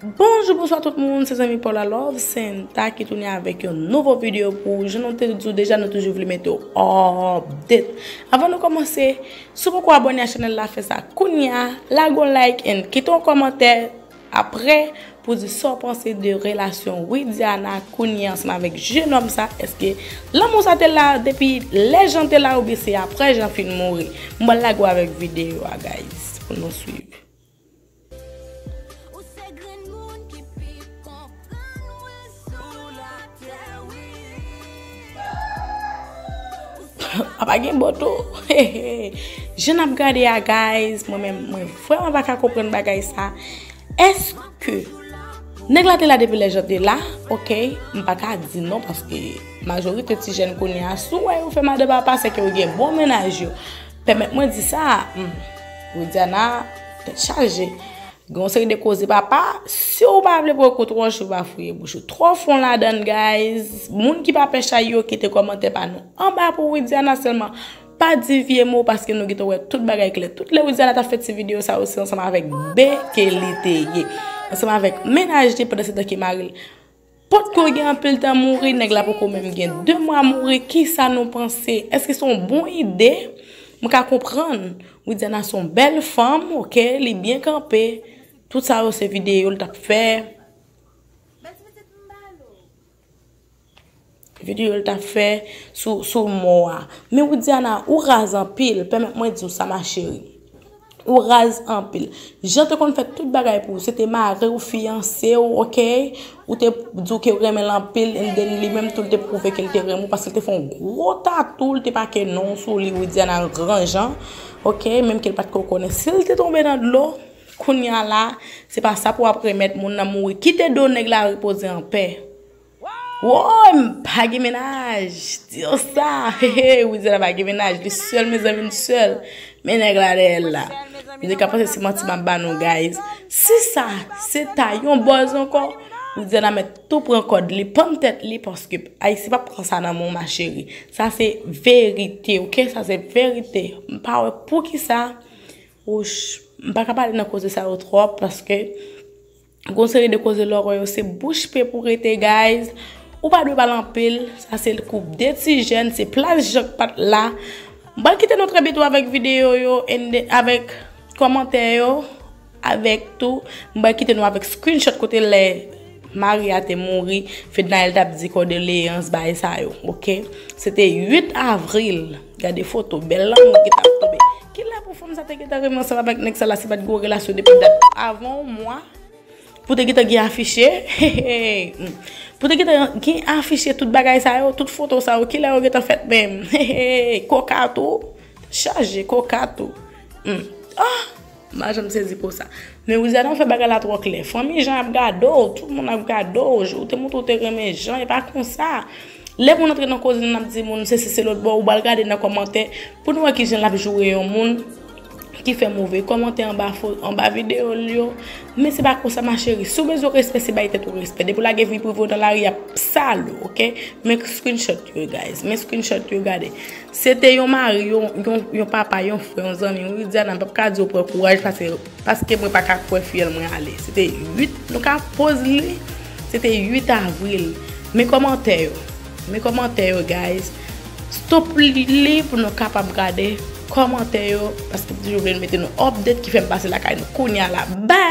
Bonjou bonswa tout moun se zanmi paw la lovesanta ki tounen avèk yon nouvo video pou ou jan nou te di w deja nou toujou vle mete w update avan nou kòmanse si w poko abòne a chanèl la fè sa kounya lage yon like and kite yon kòmantè aprè pou di sa w panse de relasyon widiana kounya ansanm avèk jenòm sa èske lanmou sa te la depi lè jan te la oubyen se aprè jan fin mouri m pral lage w avèk video a guys pou nou swiv. Apa gen bò tou? Hehe! Je n ap gade a guys, mwen menm mwen vreman pa ka konprann bagay sa. Eske nèg la te la depi lè Jean te la? Ok, m pa ka di non paske majorite ti jèn kounye a si w wè yo fè madan papa se ke yo gen bon mennaj yo. Pèmèt mwen di sa, humm. Widiana tèt chaje. Gen yon seri de koze papa, si w pa vle pran kou twò cho pa fouye bouch ou twò fon ladann guys. Moun ki pa pè chay yo kite kòmantè pa nou anba pou Widiana sèlman pa di vye mo paske nou gentan wè tout bagay klè. Tout lè Widiana t ap fè ti videyo sa yo se ansanm avèk Bee ke li te ye. Ansanm avèk mennaj li pandan se tan ke mari l. Potko gen anpil tan mouri, nèg la poko menm gen 2 mwa mouri, kisa nou panse? Eske son bon ide? M ka konprann, Widiana son bèl fanm ok, li byen kanpe, tout sa yo se video l tap fè. Video l tap fè sou mò a. Men Widiana ou raz anpil pèmèt mwen diw sa ma chérie. Ou raz anpil. Jean te konn fè tout bagay pou ou se te mariw fiyansew ok ou te diw kew renmenl anpil and then li menm tou li te pwouve kel te renmen w paske li te fè yon gwo tatou li te make non w sou li Widiana an gran jan ok menm kel pat ko konnen sil te tonbe nan dlo kounya la se pa sa pou wap remèt moun nan mouri kite do nèg la repoze anpè. Woyy m pa gen mennaj diw sa hehey wi zara pa gen mennaj li sèl mezanmi li sèl men nèg la dèyèl la nou te ka panse se manti map ba nou guys si sa se ta yon bòz ankò wi zara mèt tou pran kòd li pann tèt li paske ayisyen pap pran sa nan men w ma chérie sa se verite ok sa se verite m pa wè poukisa wouch m pa ka pale nan koze sa yo twòp paske. Gon seri de koze lè w wè yo se bouch pe pou rete guys. Ou pa dwe pale anpil, sa se koup 2 ti jèn, se plas jan k pat la. M pral kite nou trè bito avèk videyo yo and then avèk kòmantè yo, avèk tou m pral kite nou avèk screenshot kote lè mari a te mouri Fednaelle t ap di kòdeleyans bagay sa yo ok. Se te 8 avril. Gade foto bel lanmou ki tap tonbe. Kilè pou fanm sa te gentan renmen ansanm avèk nèg sa la si pat gen yon relasyon depi dat avan yon mwa pou te gentan gen afiche hehey pou te gentan gen afiche tout bagay sa yo tout foto sa yo kilè yo gentan fèt menm hehey koka tou chaje koka tou humm ahh. M pa janm sezi konsa. Men Rizana ou fè bagay la twò klè. Fanmi Jan ap gade w, tout moun ap gade w, ou te montre ou te renmen Jan, e pa konsa. Lè moun antre nan koze nan ap di moun sesi se lòt bon ou bal gade nan kòmantè pou nou wè ki jan l ap joure yon moun ki fè move kòmantè anba videyo l yo. Men se pa konsa ma chérie. Si w bezwen respè se bay tèt ou respè. Depi w lage vi prive w nan lari y ap sal ou ok. Men screenshot yo guys. Men screenshot yo gade. Se te yon mari, yon papa, yon frè, yon zanmi, yon Widiana m pap ka di yo pran kouraj pase paske mwen pa ka kwè fiyèl mwen ale. Se te 8, nou ka poz li, se te 8 avril. Men kòmantè yo, men kòmantè yo guys. Stop li li pou nou kapab gade kòmantè yo paske m toujou vle mete nou update ki fè m pase lakay nou kounya la. Bye!